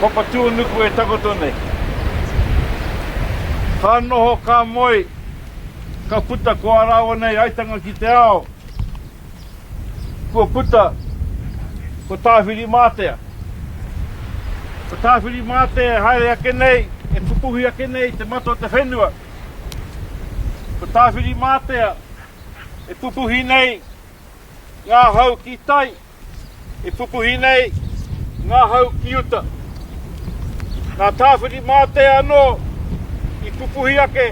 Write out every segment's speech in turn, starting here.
Ko Papatūanuku e takoto nei. Ka noho, ka moe, ka puta ko ā rāua nei aitanga ki te ao. Kua puta ko Tāwhirimātea. Ko Tāwhirimātea e haere ake nei, e pupuhi ake nei i te mata o te whenua. Ko Tāwhirimātea e pupuhi nei ngā hau ki tai, e pupuhi nei ngā hau ki uta. Nā Tāwhirimātea anō i pupuhi ake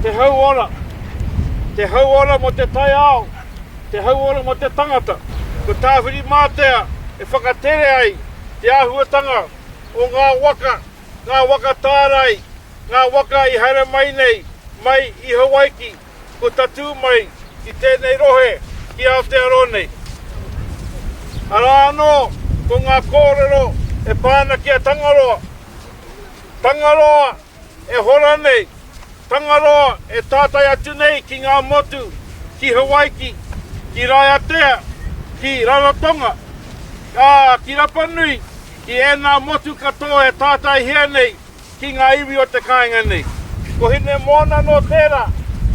te hauora, te hauora mō te taiao, te hauora mō te tangata. Ko Tāwhirimātea e whakatere ai te āhuatanga o ngā waka ngā waka tārai, ngā waka i haere mai nei, mai i Hawaiki, kua tatū mai ki tēnei rohe, ki Aotearoa nei. Arā anō, ko ngā kōrero e pā ana ki a Tangaroa. Tangaroa e hora nei, Tangaroa e tātai atu nei ki ngā motu, ki Hawaiki, ki Raiatea, ki Rarotonga, ā, ki Rapanui, Ki ēnā motu katoa e tātaihia nei ki ngā iwi o te kāinga nei. Ko Hinemoana nō tērā,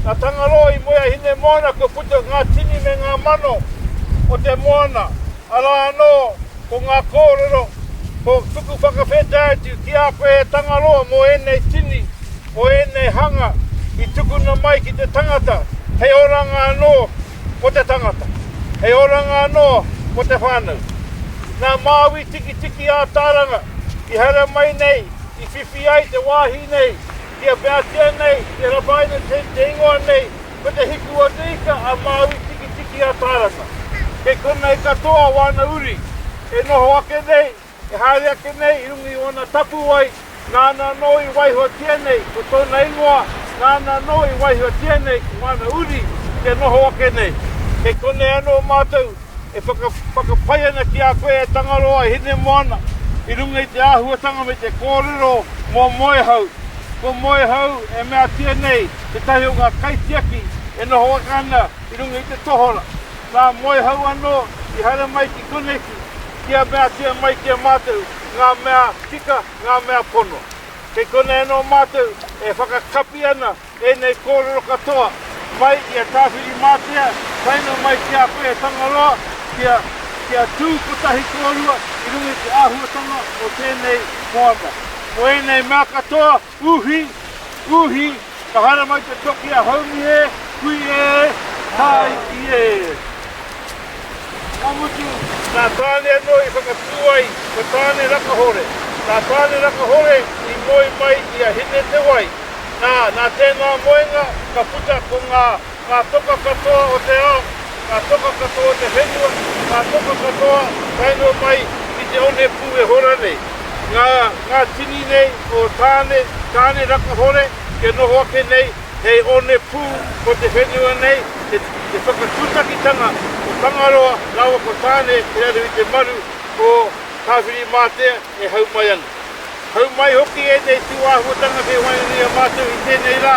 nā Tangaroa i moe a Hinemoana kua puta ngā tini me ngā mano o te moana, arā anō ko ngā kōrero, ko tuku whakawhetai atu ki a koe e Tangaroa mō ēnei tini, mō ēnei hanga i tukuna mai ki te tangata hei oranga anō. ko te tangata. Hei oranga anō, ko te whānau. Nā Māui Tikitiki ā-Tāranga i haere mai nei, i whiwhi ai te wāhi nei kia meatia nei, kia rapaina nei te ingoa nei, ko Te Hiku-o-te-Ika a Māui Tikitiki ā-Tāranga. Kei konei katoa wāna uri e noho ake nei. E haere ake nei i runga i ōna tapuwae, nāna anō i waihotia nei ko tōna ingoa, nāna anō i waihotia nei ko ngāna uri ki te noho ake nei. Kei konei anō mātou e whakapae ana ki a koe e Tangaroa, e Hinemoana, i runga i te āhuatanga me te kōrero mō Moehau. Ko Moehau e meatia nei tētahi o ngā kaitiaki e noho ake ana i runga i te tohora. Nā Moehau anō i haere mai ki koneki, Kia meatia mai ki a mātou ngā mea tika, ngā mea pono. Kei konei anō mātou e whakakapi ana ēnei kōrero katoa mai i a Tāwhirimātea taenga mai ki a koe e Tangaroa kia kia tū kotahi kōrua i runga i te āhuatanga o tēnei moana. Ko ēnei mea katoa. Uhi! Uhi! Ka haere mai te toki a Haumi e! Hui e! Tāiki e! Ka mutu, nā Tāne anō i whakatū ai, ko Tāne Rakahore. Nā Tāne Rakahore i moe mai i a Hine-te-wai. Nā, nā tēnā moenga ka puta ko ngā. Ngā toka katoa o te ao, ngā toka katoa o te whenua, ngā toka katoa tae noa mai ki te one pū e hora nei. Ngā, ngā tini nei o Tāne, Tāne Rakahore, kia noho ake nei hei one pū o te whenua nei, te, te whakatūtakitanga o Tangaroa rāua ko Tāne ki raro i te maru o Tāwhirimātea e hau mai ana. Hau mai hoki ēnei tūāhuatanga kei waenganui mātou i tēnei rā,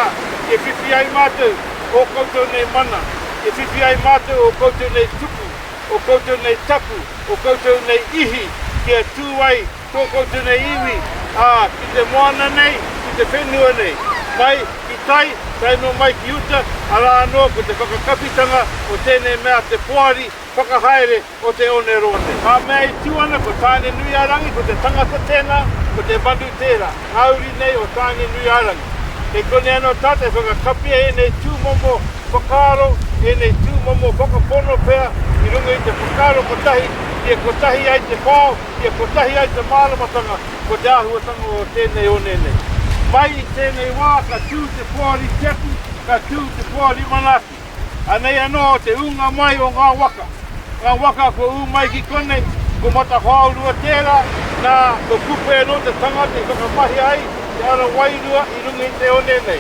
e whiwhi ai mātou ō koutou nei mana, e whiwhi ai mātou ō koutou nei tupu, ō koutou nei tapu, ō koutou nei ihi, kia tū ai tō koutou nei iwi, ā, ki te moana nei, ki te whenua nei, mai ki tai, tae noa mai ki uta, arā anō ko te whakakawhitanga o tēnei mea te poari whakahaere o te onerone. Ngā mea e tū ana ko Tāne-nui-a-rangi, ko te tangata tēnā, ko te manu tērā, ngā uri nei o Tāne-nui-a-rangi. Kei konei anō tātou e whakakapia ēnei tūmomo whakaaro, ēnei tūmomo whakapono pea i runga i te whakaaro kotahi, kia kotahi ai te whao, kia kotahi ai te māramatanga ko te āhuatanga o tēnei one nei. Mai i tēnei wā ka tū te Poari Tiaki, ka tū te Poari Manaaki. Anei anō te ūnga mai o ngā waka, ngā waka kua ū mai ki konei, ko Matahoaurua tērā, nā, ko Kupe anō te tangata i whakamahia ai te ara wairua i runga i te one nei.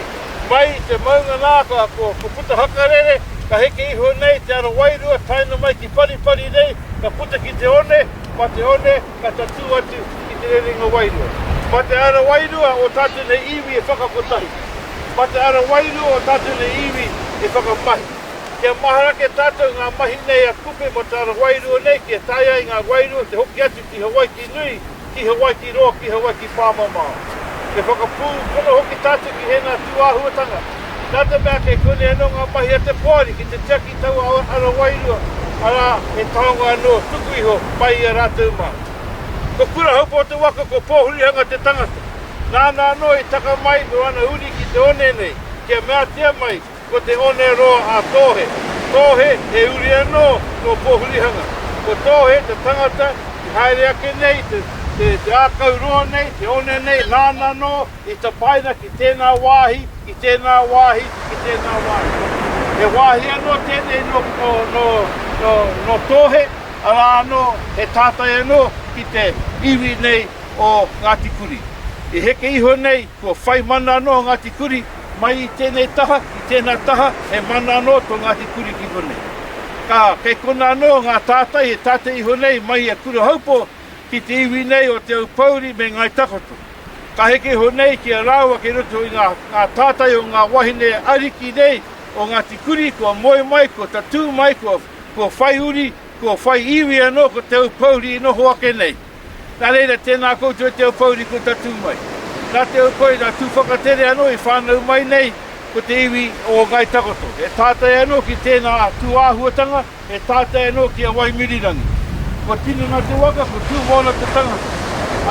Mai i te maunga nā, ko, ko Putahakarere, ka heke iho nei te ara wairua taena mai ki Paripari nei, ka puta ki te one, mā te one, Ka tatū atu ki te rerenga wairua. Mā te ara wairua o tātou nei iwi e whakakotahi. Mā te ara wairua o tātou nei iwi e whakamahi. Kia mahara ake tātou i ngā mahi nei a Kupe mō te ara wairua nei kia taea ai ngā wairua te hoki atu ki Hawaiki nui, ki Hawaiki roa, ki Hawaiki pāmamao. Me whakapūpono hoki tātou ki ēnā tūāhuatanga. Nā te mea kei konei anō ngā mahi a te poari ki te tiaki i taua ara wairua, arā, he taonga anō tuku iho mai i a rātou mā. Ko Kurahaupa o te waka ko Pōhurihanga te tangata. Nāna anō i taka mai me ōna uri ki te one nei, kia meatia mai ko te one roa a Tōhe. Tōhe, he uri anō nō Pōhurihanga. Ko Tōhe te tangata i haere ake nei i te ākau roa nei, te one nei, nāna anō, I tapaina ki tēnā wāhi, ki tēnā wāhi, ki tēnā wāhi. He wāhi anō tēnei nō, nō, nō, nō, nō Tōhe, arā anō, he tātai anō ki te iwi nei o Ngāti Kuri. I heke iho nei, kua whai mana anō Ngāti Kuri, mai i tēnei taha, i tēnā taha, he mana anō tō Ngāti Kuri ki konei. Ka, kei konā anō ngā tātai e tātai iho nei mai i a Kurahaupō ki te iwi nei o Te Aupōuri me Ngāi Takoto. Ka heke iho nei ki a rāua kei roto i ngā tātai o ngā wāhine ariki nei o Ngāti Kuri kua moe mai, kua tatū mai, kua whai uri, kua whai iwi anō ko Te Aupōuri i noho ake nei. Nā reira, tēnā koutou e Te Aupōuri kua tatū mai. Nā Te Aupōuri, nā Tūwhakatere anō i whānau mai nei ko te iwi o Ngāi Takoto. He tātai anō ki tēnā tūāhuatanga. E tātai anō ki a Waimirirangi. Kua tini ngā te waka, ko Tūmoana te tangata.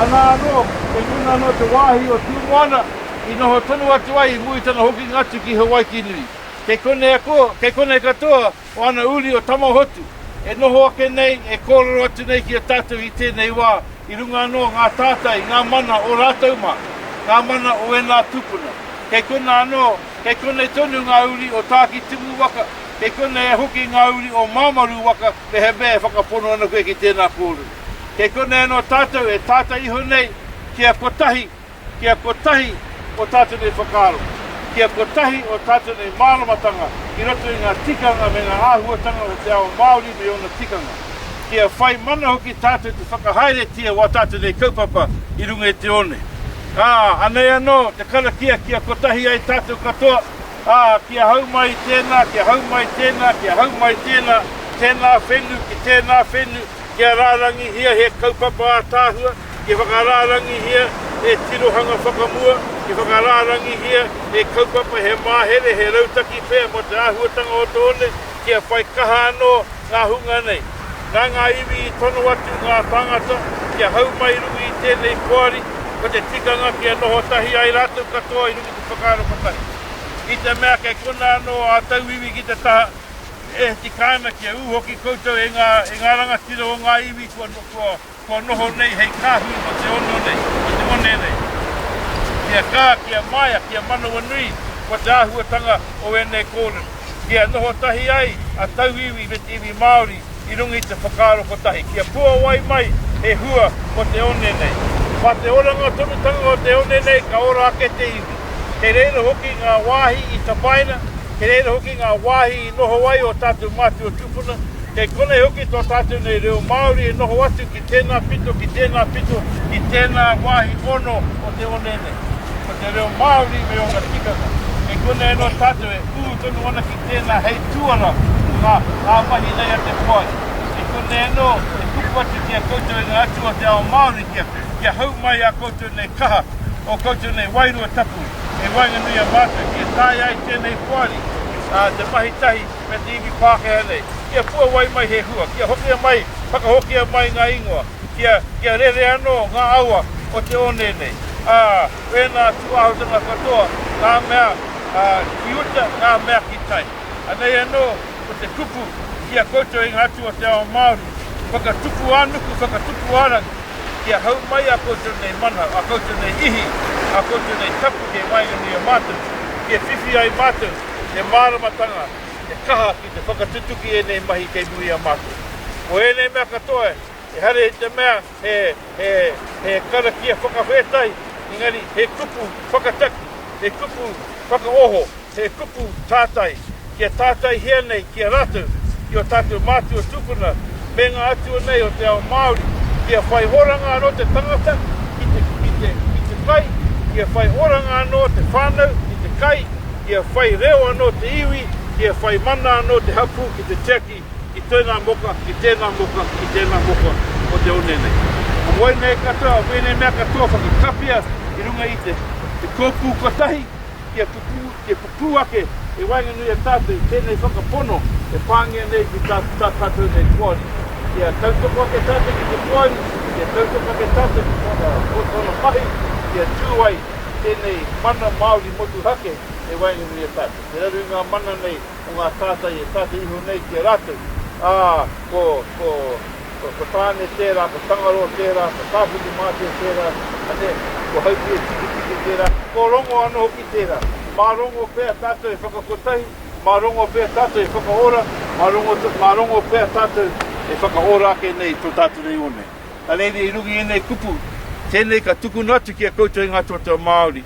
Anā anō, kei konā anō te wāhi o Tūmoana i noho tonu atu ai i muri tana hokinga atu ki Hawaikinui. Kei konea ko, kei konei katoa o ana uri o Tamahotu e noho ake nei, e kōrero atu nei ki a tātou i tēnei wā, i runga anō o ngā tātai, ngā mana o rātou mā, ngā mana o ēnā tūpuna. Kei konā anō, kei konei tonu ngā uri o Tākitimu waka. Kei konei e hoki ngā uri o Māmaru waka mehemea e whakapono ana koe ki tēnā kōrero. Kei konei anō tātou e tātai iho nei kia kotahi, kia kotahi o tātou nei whakaaro, kia kotahi o tātou nei māramatanga i roto i ngā tikanga me ngā āhuatanga o te ao Māori me ōna tikanga. Kia whai mana hoki tātou te whakahaeretia o ā tātou nei kaupapa i runga i te one. Ā, anei anō te karakia kia kotahi ai tātou katoa. Ā, kia hau mai tēnā, kia hau mai tēnā, kia hau mai tēnā, tēnā whenu ki tēnā whenu, kia rārangihia he kaupapa ātaahua, kia whakarārangihia he tirohanga whakamua, kia whakarārangihia he kaupapa, he māhere, he rautaki pea mō te āhuatanga o te one, kia whai kaha anō ngā hunga nei. Nā ngā iwi i tono atu ngā tāngata kia hau mai i runga i tēnei poari, ko te tikanga kia noho tahi ai rātou katoa i runga. Whakaaro kotahi. I te mea kei konā anō ā tauiwi ki te taha, e tika ana kia ū hoki koutou e ngā, e ngā rangatira o ngā iwi kua, kua, kua noho nei hei kāhui mō te ono nei, mō te one nei. Kia kā, kia māia, kia manawanui, ko te āhuatanga o ēnei kōrero. Kia noho tahi ai a tauiwi me te iwi Māori, I runga i te whakaaro kotahi, kia puawai mai he hua mō te one nei. Mā te oranga tonutanga o te one nei ka ora ake te iwi. Kei reira hoki ngā wāhi i tapaina, kei reira hoki ngā wāhi i noho ai ō tātou mātua tūpuna, kei konei hoki tō tātou nei reo Māori e noho atu ki. Tēnā pito ki tēnā pito ki tēnā wāhi ono o te one nei. Ko te reo Māori me ōna tikanga, kei konei anō tātou e ū tonu ana ki tēnā hei tuara mō ngā ngā mahi nei a te Poari. Kei konei anō e tupu atu ki a koutou e ngā atua o te ao Māori kia, kia hau mai ā koutou nei kaha, ō koutou nei wairua tapu, hei waenganui i a mātou kia taea ai tēnei Poari, ā, te mahi tahi. me te iwi Pākehā nei, kia puawai mai he hua, kia hokia mai, whakahokia mai ngā ingoa, kia, kia rere anō ngā awa o te one nei, ā, ēnā atu āhutanga katoa, ngā mea, ā, ki uta, ngā mea ki tai. Anei anō, ko te kupu ki a koutou e ngā atua o te ao Māori, whakatupu-ā-nuku, whakatupu-ā-rangi, kia hau mai ā koutou nei mana, ā koutou nei ihi, ā koutou nei tapu kei waenganui i a mātou, kia whiwhi ai mātou, He māramatanga, he kaha ki te whakatutuki ēnei mahi kei muri a mātou. Ko ēnei mea katoa, ehara i te mea he karakia whakawhētai, engari he kupu whakataki, he kupu whakaoho, he kupu tātai, kia tātaihia nei ki a rātou, ki ō tātou mātua tūpuna me ngā atua nei o te ao Māori, kia whai oranga anō te tangata ki te, ki te, ki te kai, kia whai oranga anō te whānau ki te kai, kia whai reo anō te iwi, kia whai mana anō te hapū ki te tiaki ki tēnā moka, ki tēnā moka, ki tēnā moka o te one nei. Ko wai nei katoa o wēnei mea katoa whakakapia i runga i te, te kōpū kotahi, Kia pupū, kia pupū ake e waenganui a tātou i tēnei whakapono e pāngia nei ki tā, tā tātou nei poari. Kia tautoko ake tātou ki te poari, kia tautoko ake tātou ki tōna, ko tōna mahi, kia tū ai tēnei mana Māori motuhake e waenganui i a tātou. Te raru i ngā mana nei o ngā tātai e tātai iho nei ki a rātou, ā, ko, ko. Ko, ko Tāne tērā, ko Tangaroa tērā, ko Tāwhirimātea tērā, ane, ko Haupia Tiketike tērā, ko Rongo anō hoki tērā. Mā Rongo pea tātou e whakakotahi, mā Rongo pea tātou e whakaora, mā Rongo, mā Rongo pea tātou e whakaora ake nei tō tātou nei one. Anei i runga i ēnei kupu, tēnei ka tukuna atu ki a koutou i ngā totoa Māori.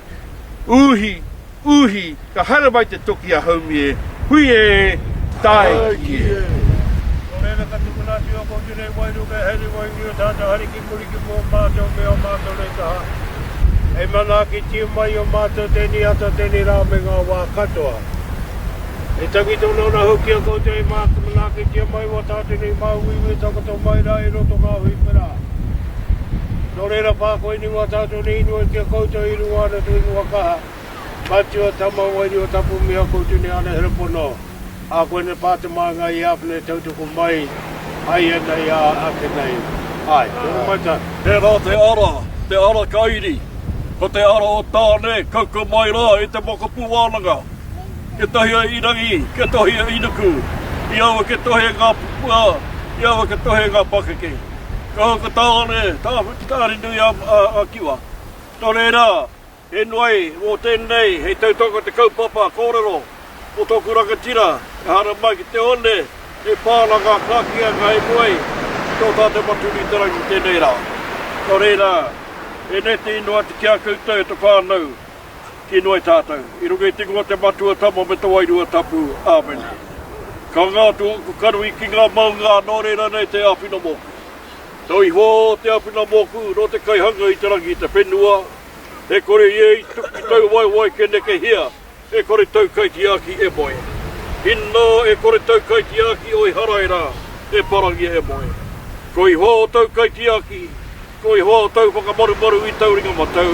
Uhi! Uhi, ka haere mai te toki a Haumi e, hui e, tae ki e. Nō reira ka tukuna atu a Kōti Rei Wairu kei haere wai uri o tātou hari ki muri ki mua o mātou me ō mātou rei kaha. Hei manaakitia mai i ō mātou tēnei ata tēnei rā me ngā wā katoa. He tangi tonu ana hoki a koutou e manaakitia mai i ō tātou nei māuiui e takoto mai rā i roto ngā hui whera. Nō reira, pā koe ni mā tātou nei inoi ki a koutou i runga ana tō ingoa kaha, Matua, Tama, Wairua Tapu, me ākou Tune Anahera Pono, ā koinei pā te māngai i āwhina e tautoko mai ai ana i a ake nei. Āe. Tēnā mai tā. Tērā te ara, te ara ka iri, ko te ara o Tāne, kauka mai rā i te mokopū wānanga. Ketahi a Irangi, ketohi a Inuku, i aua ketohi e ngā pupua, i aua ketohi e ngā pakeke. Kaha ka tāone tāwhiti kāri nui ā-kiwa. Nō reira, he noai mō tēnei hei tautoko i te kaupapa kōrero mō tōku rangatira, ehara mai ki te one he pānanga ka kīa ka inoi ki tō tātou maturitaranga i tēnei rā. Nō reira, e neti noa atu ki a koutou e te whānau. ki noe tatou, i runga i te ingoa te Matua Tama me te Wairua Tapu. Amen. Ka nga atu oku karui ki nga maunga ano rera nei te awhina moku. Tau iho te awhina moku no te kaihanga i te rangi i te whenua, e kore ie i tuki tau waewae ke nekehia e kore tau kaitiaki e moe. Ina e kore tau kaitiaki o Iharaira e parangia e moe. Ko iho tau kaitiaki, Ko Ihoa o tou whakamarumaru i tou ringa matau,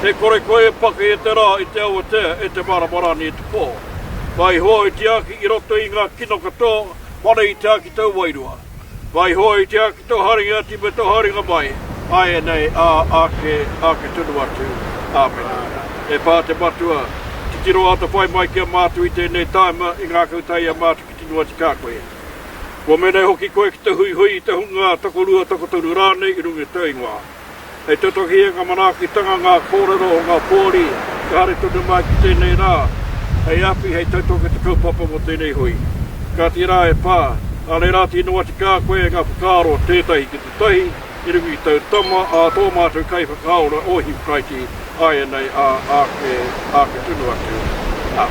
e kore koe e paki e te ra, i te awatea, e te marama rani, e te po. Ka Ihoa i tiaki i roto i nga kino katoa, mana i tiaki tou wairua. Ka Ihoa i tiaki to haringa ati me to haringa mai, aenei, a ake, ake tonu atu. Amena. E pa te Matua, titiro ata pai mai ki a matu i tenei taima, i ngakau tai i a matu ki te nuati ka koe. Kua menei hoki koe ki te huihui i te hunga tokorua, tokotoru rānei i runga i tēu ingoa. Hei te toki e ngā manaakitanga ngā kōrero o ngā pōari kia haere tonu mai ki tēnei rā, hei awhi, hei tautoko i te kaupapa mō tēnei hui. Kāti rā e Pā, ānei rā tino wati kā koe e ngā whakaaro tētahi ki te tahi i runga i tau tama ā tō mātou kaiwhakaora o Hipkaiti āianei ā āke, āke tonu atu, ā.